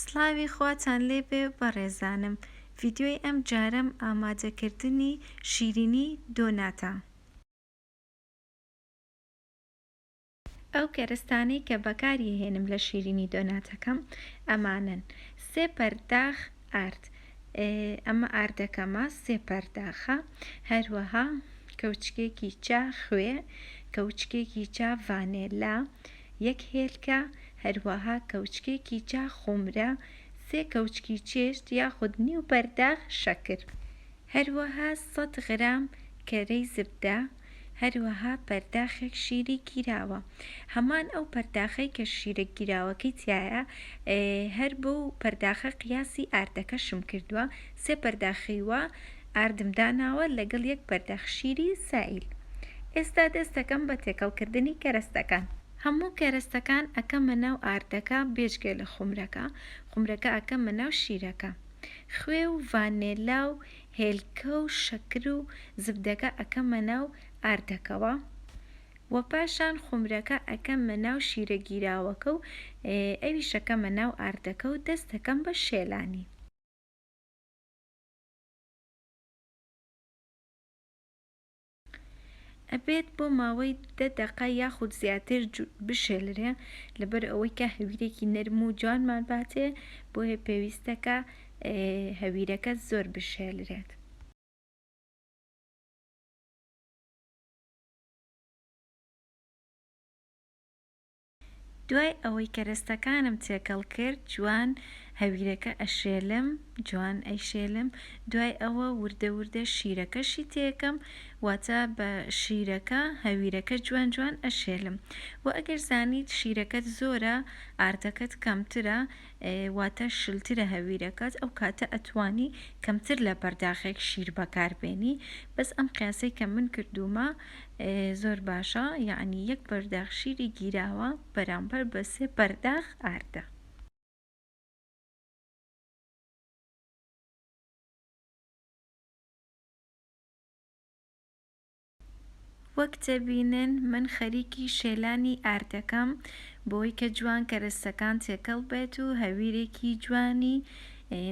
سڵاوی خواتان لێ بێ بەڕێزانم ڤیدیۆی ئەم جارەم ئامادە کردنی شیرینی دۆناتە. ئەو کەرستانەی کە بەکاری ئەهێنم لە شیرینی دۆناتەکەم ئەمانەن سێ پەرداخ ئارد ئەمە ئاردەکەمە سێ پەرداخە هەروەها کەوچکێکی چا خوێ کەوچکێکی چا ڤانێلا یەک هێلکە، هەروەها کەوچکێکی چا خومرە، سێ کەوچکی چێشت یاخود نیو پەرداخ شەکر، هەروەها سەد غرام کەرەی زبدە، هەروەها پەرداخێک شیری گیراوە، هەمان ئەو پەرداخەی کە شیرە گیراوەکەی تیایە، هەر بەو پەرداخە قیاسی ئاردەکەشم کردوە، سێ پەرداخی وا، ئاردم داناوە لەگەڵ یەک پەرداخ شیری سایل ئێستا دەست دەکەم بە تێکەڵ کردنی کەرەستەکان. هەموو کەرەستەکان ئەکەمە ناو ئاردەکە بێجگە لە خومرەکە خومرەکە ئەکەمە ناو شیرەکە خوێ و ڤانێلا و هێلکە و شەکر و زبدەکە ئەکەمە ناو ئاردەکەوە وە پاشان خومرەکە ئەکەمە ناو شیرە گیراوەکە و ئەویش ئەکەمە ناو ئاردەکە و دەست دەکەم بە شێلانی. ئەبێت بۆ ماوەی دە دەقە یاخود زیاتر بشێلرێ لەبەر ئەوەی کە هەویرێکی نەرم و جوانمان باتێ بۆیە پێویستەکە هەویرەکە زۆر بشێلرێت. دوای ئەوەی کەرەستەکانم تێکەڵ کرد جوان هەویرەکە ئەشێلم جوان ئەیشێلم دوای ئەوە وردە وردە شیرەکەشی تێکەم واتە بە شیرەکە هەویرەکە جوان جوان ئەشێلم وە ئەگەر زانیت شیرەکەت زۆرە ئاردەکەت کەمترە واتە شلترە هەویرەکەت ئەو کاتە ئەتوانی کەمتر لە پەرداخێک شیر بەکار بێنی بەس ئەم قیاسەی کە من کردومە زۆر باشە یعنی یەک پەرداخ شیری گیراوە بەرامبەر بە سێ پەرداخ ئاردە وەک دەبینن من خەریکی شێلانی ئاردەکەم بۆی کە جوان کەرەستەکان تێکەڵ بێت و هەویرێکی جوانی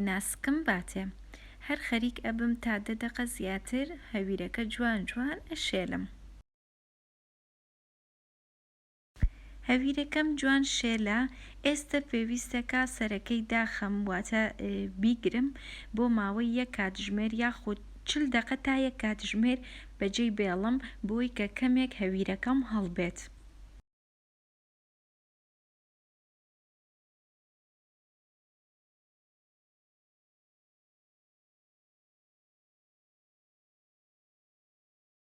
ناسکم باتێ هەر خەریک ئەبم تا دە دەقە زیاتر هەویرەکە جوان جوان ئەشێلم. هەویرەکەم جوان شێلە ئێستە پێویستەکە سەرەکەی داخەم واتە بیگرم بۆ ماوەی یەک کاتژمێر یاخود چل دەقە تا یەک کاتژمێر بەجێی بێڵم بۆی کە کەمێک هەویرەکەم هەڵبێت.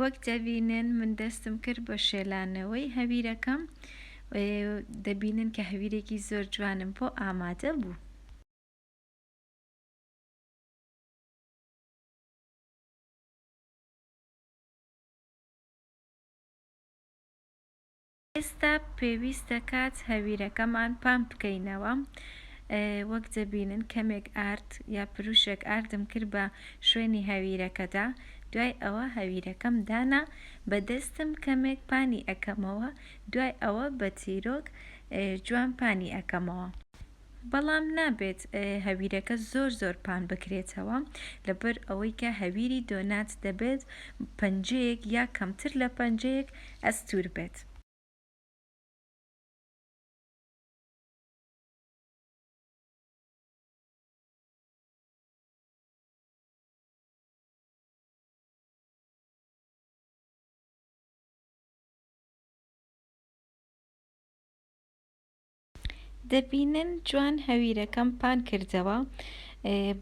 وەک دەبینن من دەستم کرد بە شێلانەوەی هەویرەکەم دەبینن کە هەویرێکی زۆر جوانم بۆ ئامادە بوو. ئێستا پێویستە کات هەویرەکەمان پامپ بکەینەوە وەک دەبینن کەمێک ئارد یا پروشێک ئاردم کرد بە شوێنی هەویرەکەدا دوای ئەوە هەویرەکەم دانا بە دەستم کەمێک پانی ئەکەمەوە دوای ئەوە بە تیرۆک جوان پانی ئەکەمەوە. بەڵام نابێت هەویرەکە زۆر زۆر پان بکرێتەوە لەبەر ئەوەی کە هەویری دۆنات دەبێت پەنجەیەک یا کەمتر لە پەنجەیەک ئەستور بێت. دەبینن جوان هەویرەکەم پان کردەوە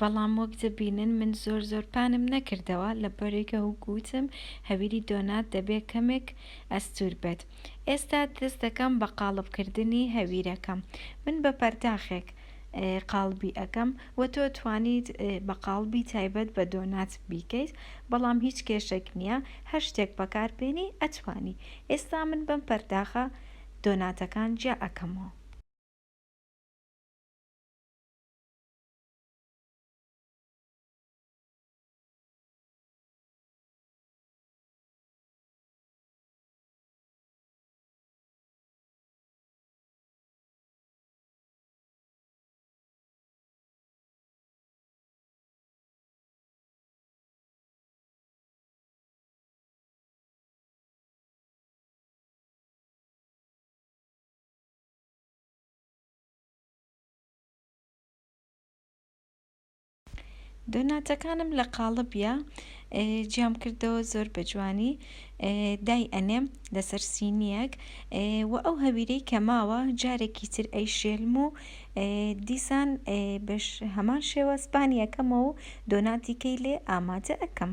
بەڵام وەک دەبینن من زۆر زۆر پانم نەکردەوە لە بەرێکە هوگوتم هەویری دۆنات دەبێ کەمێک ئەستور بێت ئێستا دەست دەکەم بە قاڵبکردنی هەویرەکەم من بە پەرداخێک قاڵبی ئەەکەم و تۆ توانیت بە قاڵبی تایبەت بە دۆنات بیکەیت بەڵام هیچ کێشێک نییە هەر شتێک بەکاربێنی ئەتوانی ئێستا من بەم پەرداخە دۆناتەکان جیا ئەکەمەوە. دۆناتەکانم لە قاڵبیە جیام کردەوە زۆر بە جوانی دای ئەنێم لەسەر سینیەک و ئەو هەویرەی کە ماوە جارێکی تر ئەی شێلم و دیسان بەش هەمان شێوە سپانیەکەمە و دۆناتیکەی لێ ئامادە ئەەکەم.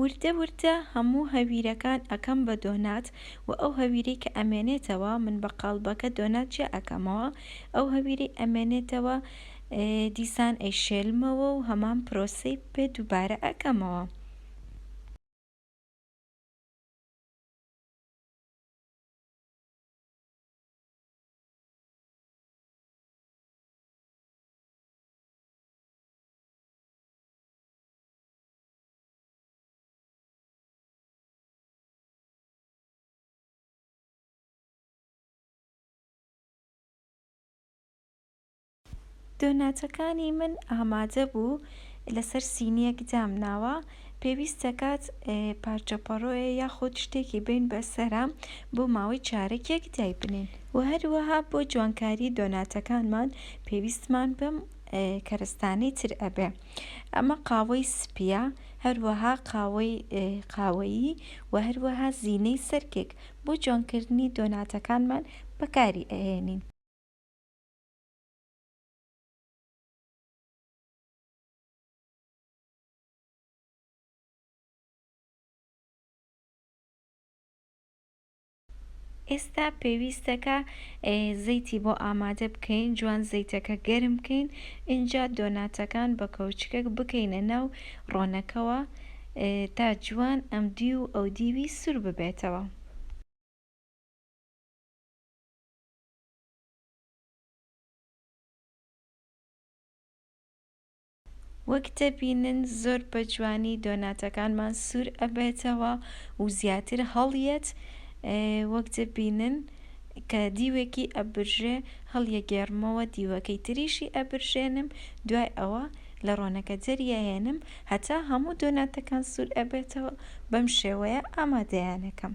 وردە وردە هەموو هەویرەکان ئەکەم بە دۆنات وە ئەو هەویرەی کە ئەمێنێتەوە من بە قاڵبەکە دۆنات جیا ئەکەمەوە ئەو هەویرەی ئەمێنێتەوە دیسان ئەیشێلمەوە و هەمان پرۆسەی پێ دووبارە ئەکەمەوە. دۆناتەکانی من ئامادە بوو لەسەر سینیەک دام ناوە پێویست دەکات پارچە پەڕۆیە یاخود شتێکی بین بەسەرە بۆ ماوەی چارەکێک دای بنین و هەروەها بۆ جوانکاری دۆناتەکانمان پێویستمان بەم کەرستانەی تر ئەبێ. ئەمە قاوەی سپییە، هەروەها قاوەی قاوەیی و هەروەها زینەی سەر کێک بۆ جوانکردنی دۆناتەکانمان بەکاری ئەهێنین. ئێستا پێویستە کە زەیتی بۆ ئامادە بکەین جوان زەیتەکە گەرم بکەین ئینجا دۆناتەکان بە کەوچکەک بکەینە ناو ڕۆنەکەوە تا جوان ئەم دی و ئەو دیوی سور ببێتەوە وەک دەبینن زۆر بە جوانی دۆناتەکانمان سوور ئەبێتەوە و زیاتر هەڵیەت وەک دەبینن کە دیوێکی ئەبرژێ هەڵیەگێڕمەوە دیوەکەی تریشی ئەبرژێنم دوای ئەوە لە ڕۆنەکە دەریەهێنم هەتا هەموو دۆناتەکان سوور ئەبێتەوە بەم شێوەیە ئامادەیانەکەم.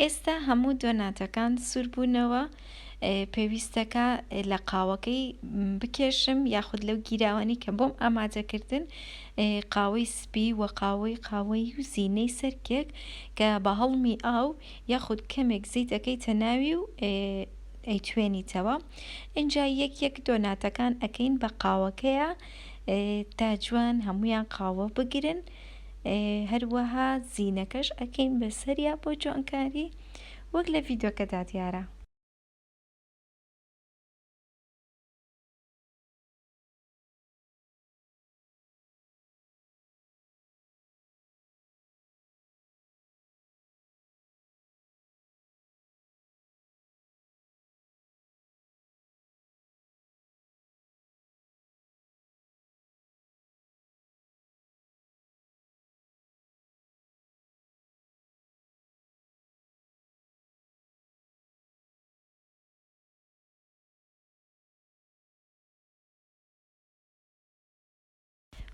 ئێستا هەموو دۆناتەکان سوور بوونەوە، پێویستەکە لە قاوەکەی بکێشم یاخود لەو گیراوانەی کە بۆم ئامادەکردن قاوەی سپی و قاوەی قاوەی و زینەی سەرکێک کە بە هەڵمی ئاو یاخود کەمێک زیت ئەەکەیتە ناوی و ئەیتوێنیتەوە ئینجا یەک یەک دۆناتەکان ئەەکەین بە قاوەکەیە تا جوان هەمویان قاوە بگرن. هەروەها زینەکەش ئەکەین بەسەریا بۆ جوانکاری وەک لە ڤیدۆکەدا دیارە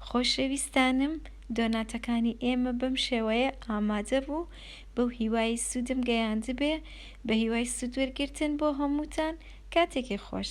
خۆشەویستانم دۆناتەکانی ئێمە بەم شێوەیە ئامادە بوو بەو هیوای سودم گەیاندبێ بە هیوای سود وەرگرتن بۆ هەمووتان کاتێکی خۆش.